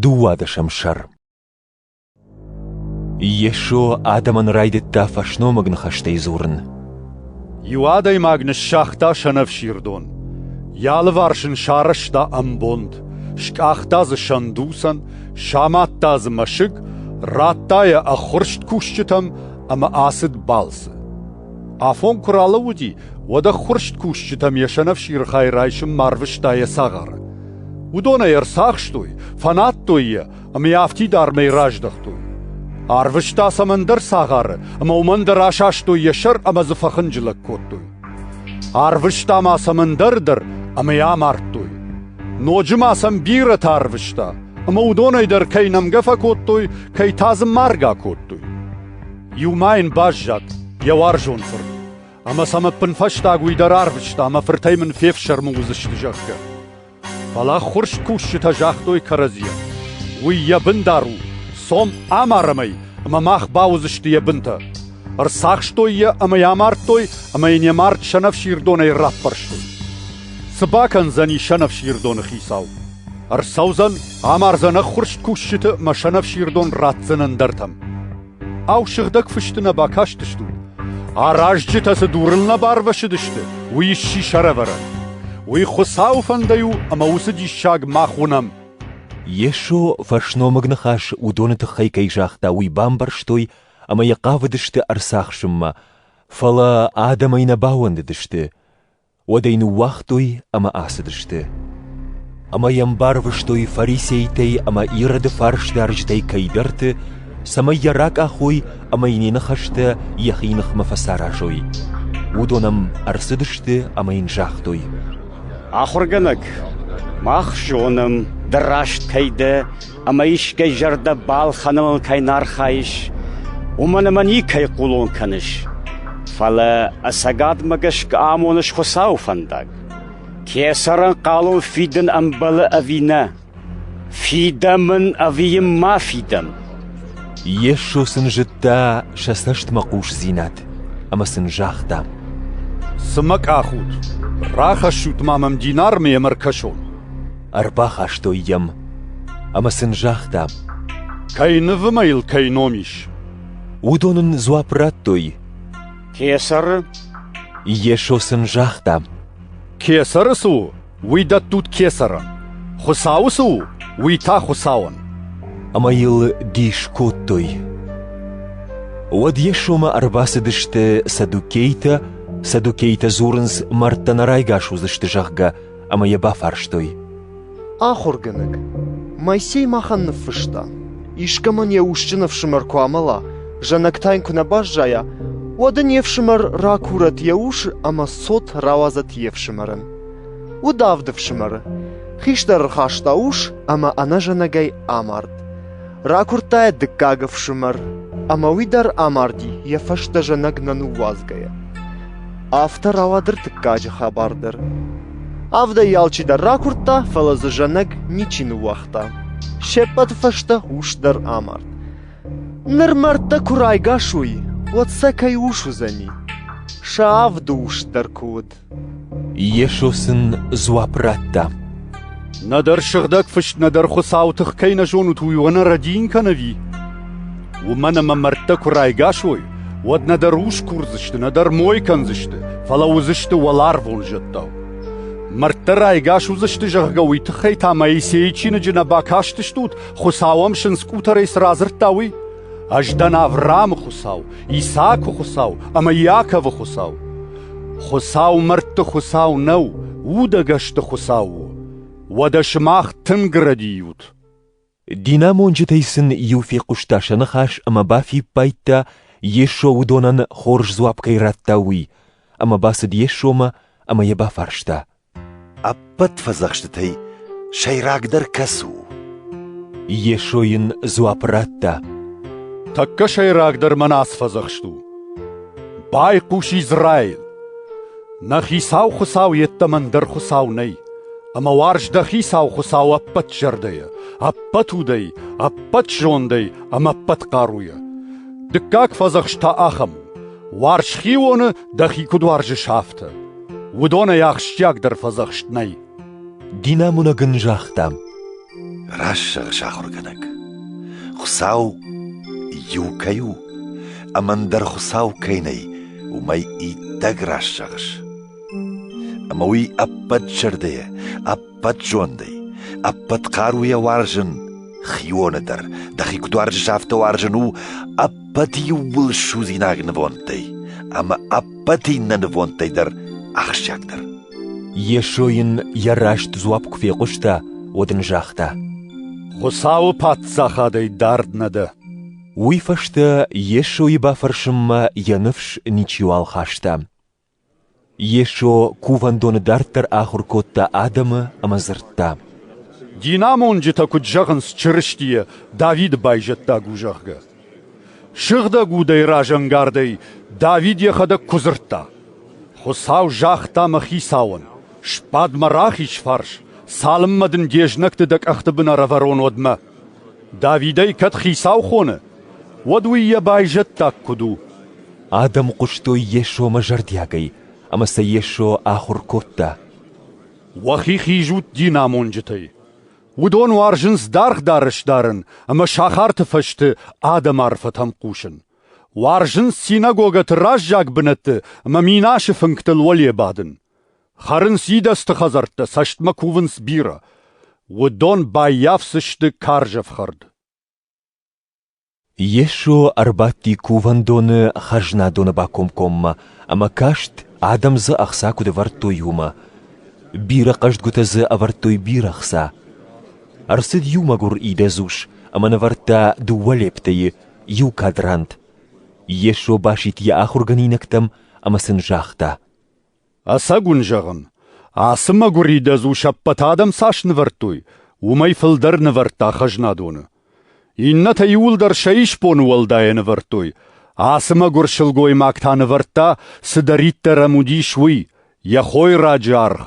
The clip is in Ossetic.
Дыууадӕсӕм сӕр Йесо адӕмӕн райдыдта фӕсномыг ныхӕстӕй дзурын. Иу адӕймаг ныссагъта сӕнӕфсирдон, йӕ алыварс ын сарӕзта ӕмбонд, скъахта дзы сӕндуцӕн, самадта дзы мӕсыг, радта йӕ ӕххуырст кусджытӕм ӕмӕ ацыд балцы. Афон куы ралӕууыди, уӕд ӕххуырст кусджытӕм йӕ сӕнӕфсиры хай райсынмӕ арвыста йӕ цагъары. Уыдон ӕй ӕрцахстой, фӕнадтой йӕ ӕмӕ йӕ афтидармӕй раздӕхтой. Арвыста сӕм ӕндӕр цагъары ӕмӕ уымӕн дӕр асастой йӕ сӕр ӕмӕ дзы фӕхынджылӕг кодтой. Арвыста ма сӕм ӕндӕр дӕр ӕмӕ йӕ амардтой. Ноджы ма сӕм бирӕтӕ арвыста, ӕмӕ уыдонӕй дӕр кӕй нӕмгӕ фӕкодтой, кӕй та дзы маргӕ кодтой. Иу ма йын баззад йӕ уарзон фырт. Ӕмӕ сӕм ӕппынфӕстаг уый дӕр арвыста, ӕмӕ фыртӕй мын фефсӕрмы уыдзысты, зӕгъгӕ. Фӕлӕ ӕххуырст кусджытӕ загътой кӕрӕдзийӕн, уый йӕ бын дӕр у, цом амарӕм ӕй, ӕмӕ мах бауыдзысты йӕ бынтӕ. Ӕрцахстой йӕ ӕмӕ йӕ амардтой, ӕмӕ йын йӕ мард сӕнӕфсирдонӕй раппӕрстой. Цы бакӕндзӕни сӕнӕфсирдоны хицау? Ӕрцӕудзӕн, амардзӕн ӕххуырст кусджыты ӕмӕ сӕнӕфсирдон ратдзӕн ӕндӕртӕм. Ау, сыгъдӕг фысты нӕ бакастыстут? Аразджытӕ цы дурыл нӕ барвӕсыдысты, уый сси сӕрӕвӕрӕн. Уый Хуыцауы фӕндӕй у, ӕмӕ уыцы диссаг мах уынӕм. Йесо фӕсномыг ныхас уыдоны тыххӕй кӕй загъта, уый бамбӕрстой ӕмӕ йӕ хъавыдысты ӕрцахсынмӕ, фӕлӕ адӕмӕй нӕ бауӕндыдысты. уӕд ӕй ныууагътой ӕмӕ ацыдысты. Ӕмӕ йӕм барвыстой фарисейтӕй ӕмӕ Ироды фарсдарджытӕй кӕйдӕрты, цӕмӕй йӕ ракъахой ӕмӕ йын йӕ ныхӕстӕ йӕхи ныхмӕ фӕцаразой. Уыдон ӕм ӕрцыдысты ӕмӕ йын загътой: «Ахуыргӕнӕг, мах зонӕм, ды раст кӕй дӕ, ӕмӕ искӕй зӕрдӕ балхӕнын мыл кӕй нӕ архайыс, уымӕн ӕмӕ никӕй хъулон кӕныс. Фӕлӕ ӕцӕгадмӕ гӕсгӕ амоныс Хуыцауы фӕндаг. Кесӕрӕнхъӕлон фидын ӕмбӕлы ӕви нӕ? Фидӕм ын ӕви йын ма фидӕм? Йесо сын зыдта сӕ цӕстмӕ хъусдзинад ӕмӕ сын загъта: «Цы мӕ къахут? Рахӕссут ма мӕм динармӕ ӕмӕ ӕркӕсон!» Ӕрбахастой йӕм Ӕмӕ сын загътам, кӕй нывы мӕ йыл кӕй ном ис. Уыдон ын дзуапп радтой, Кесӕры. Йесо сын загъта, Кесӕры цы у, уый дӕттут кесӕрӕн. Хуыцауы цы у, уый та Хуыцауӕн. Ӕмӕ йыл дис кодтой. Уӕд Йесомӕ ӕрбацыдысты саддукейтӕ, саддукейтӕ дзурынц, мӕрдтӕ нӕ райгас уыдзысты, зӕгъгӕ, ӕмӕ йӕ бафарстой. Ахуыргӕнӕг, Моисей махӕн ныффыста, искӕмӕн йӕ усджын ӕфсымӕр куы амӕла, зӕнӕг та йын куы нӕ баззайа, уӕд ын йе фсымӕр ракурӕт йӕ ус ӕмӕ цот рауадзӕт йе фсымӕрӕн. Уыд авд ӕфсымӕры. Хистӕр ӕрхаста ус ӕмӕ ӕнӕзӕнӕгӕй амард. Ракуырдта йӕ дыккаг ӕфсымӕр, ӕмӕ уый дӕр амарди, йӕ фӕстӕ зӕнӕг нӕ ныууадзгӕйӕ. Афтӕ рауад ӕртыккаджы хабар дӕр. Авдӕй алчи дӕр ракуырдта, фӕлӕ дзы зӕнӕг ничи ныууагъта. Се ппӕты фӕстӕ ус дӕр амард. Ныр мӕрдтӕ куы райгас уой, уӕд сӕ кӕй ус уыдзӕни? Сӕ авды ус дӕр куы уыд. Йесо сын дзуапп радта. Нӕдӕр сыгъдӕг фыст, нӕдӕр Хуыцауы тых кӕй нӕ зонут, уый уӕ нӕ рӕдийын кӕн ӕви? Уымӕн ӕмӕ мӕрдтӕ куы райгас уой, уӕд нӕдӕр ус курдзысты, нӕдӕр мой кӕндзысты, фӕлӕ уыдзысты уӕларвон зӕдтау. Мӕрдтӕ райгас уыдзысты, зӕгъгӕ, уый тыххӕй та Моисейы чиныджы нӕ бакастыстут, Хуыцау ӕм сындз къутӕрӕй цы радзырдта, уый? Ӕз дӕн Авраамы Хуыцау, Исаакы Хуыцау ӕмӕ Иаковы Хуыцау. Хуыцау мӕрдты Хуыцау нӕу, удӕгӕсты Хуыцау у. Уӕдӕ сымах тынг рӕдийут. Динамонджытӕй сын иу фехъуыста сӕ ныхас ӕмӕ бафиппайдта, Йесо уыдонӕн хорз дзуапп кӕй радта, уый, ӕмӕ бацыд Йесомӕ ӕмӕ йӕ бафарста, Ӕппӕт фӕдзӕхстытӕй сӕйрагдӕр кӕцы у? Йесо йын дзуапп радта. Тӕккӕ сӕйрагдӕр мӕнӕ ацы фӕдзӕхст у. Байхъус Израил! Нӕ Хицау Хуыцау йеддӕмӕ ӕндӕр Хуыцау нӕй, ӕмӕ уарз дӕ Хицау Хуыцау ӕппӕт зӕрдӕйӕ, ӕппӕт удӕй, ӕппӕт зондӕй ӕмӕ ӕппӕт хъаруйӕ. Дыккаг фӕдзӕхст та ахӕм у: Уарз хионы, дӕхи куыд уарзыс, афтӕ. уыдонӕй ахсджиагдӕр фӕдзӕхст нӕй. Динамонӕг ын загъта. Рассӕр, сахуыргӕнӕг. Хуыцау иу кӕй у, ӕмӕ ӕндӕр Хуыцау кӕй нӕй, уымӕй иттӕг раст зӕгъыс. Ӕмӕ уый ӕппӕт зӕрдӕйӕ, Бӕтзондӕй, ӕппӕт хъаруйӕ уарзын хионы дӕр, дӕхи куыд уарзыс, афтӕ уарзын у ӕппӕт иууыл судзинаг нывондтӕй ӕмӕ ӕппӕт иннӕ нывондтӕй дӕр ахсджиагдӕр. Йесо йын йӕ раст дзуапп куы фехъуыста, уӕд ын загъта: Хуыцауы Паддзахадӕй дард нӕ дӕ. Уый фӕстӕ Йесойы бафӕрсынмӕ йӕ ныфс ничиуал хаста. Йесо кувӕндоны дарддӕр ахуыр кодта адӕмы ӕмӕ дзырдта. «Динамонджытӕ куыд зӕгъынц Чырыстийӕ, Давиды байзӕддаг у, зӕгъгӕ? Сыгъдӕг удӕй разӕнгардӕй Давид йӕхӕдӕг куы дзырдта: «Хуыцау загъта мӕ хицауӕн: Сбад мӕ рахиз фарс, цалынмӕ дын де знӕгты дӕ къӕхты бын ӕрӕвӕрон, уӕдмӕ». Давидӕй кӕд хицау хоны, уӕд уый йӕ байзӕддаг куыд у? Адӕм хъуыстой Йесомӕ зӕрдиагӕй, ӕмӕ сӕ Йесо ахуыр кодта. Уӕхи хизут динамонджытӕй. Уыдон уарзынц даргъ дарӕс дарын ӕмӕ сахарты фӕзты адӕмы арфӕтӕм хъусын. Уарзынц синагогӕты раззаг бынӕтты ӕмӕ минасы фынгтыл уӕле бадын. Хӕрынц идӕдзты хӕдзӕрттӕ, цӕстмӕ кувынц бирӕ. Уыдон баййафдзысты карз ӕфхӕрд. Йесо ӕрбадти кувӕндоны хӕзнадоны бакомкоммӕ ӕмӕ каст, адӕм дзы ӕхца куыд ӕвӕрдтой, уымӕ. Бирӕ хъӕздгуытӕ дзы ӕвӕрдтой бирӕ хца. Ӕрцыд иу мӕгуыр идӕдз ус ӕмӕ нывӕрдта дыууӕ лептӕйы, иу кадрант. Йесо басидт йӕ ахуыргӕнинӕгтӕм ӕмӕ сын загъта: Ӕцӕг уын зӕгъын, ацы мӕгуыридӕдз у се ппӕт адӕм цас нывӕрдтой, уымӕй фылдӕр нывӕрдта хӕзнадоны. Иннӕтӕ иуылдӕр сӕ исбоны уӕлдайӕ нывӕрдтой, ацы мӕгуыр сылгоймаг та нывӕрдта, цыдӕриддӕр ӕм уыдис, уый, йӕ хойраджы аргъ.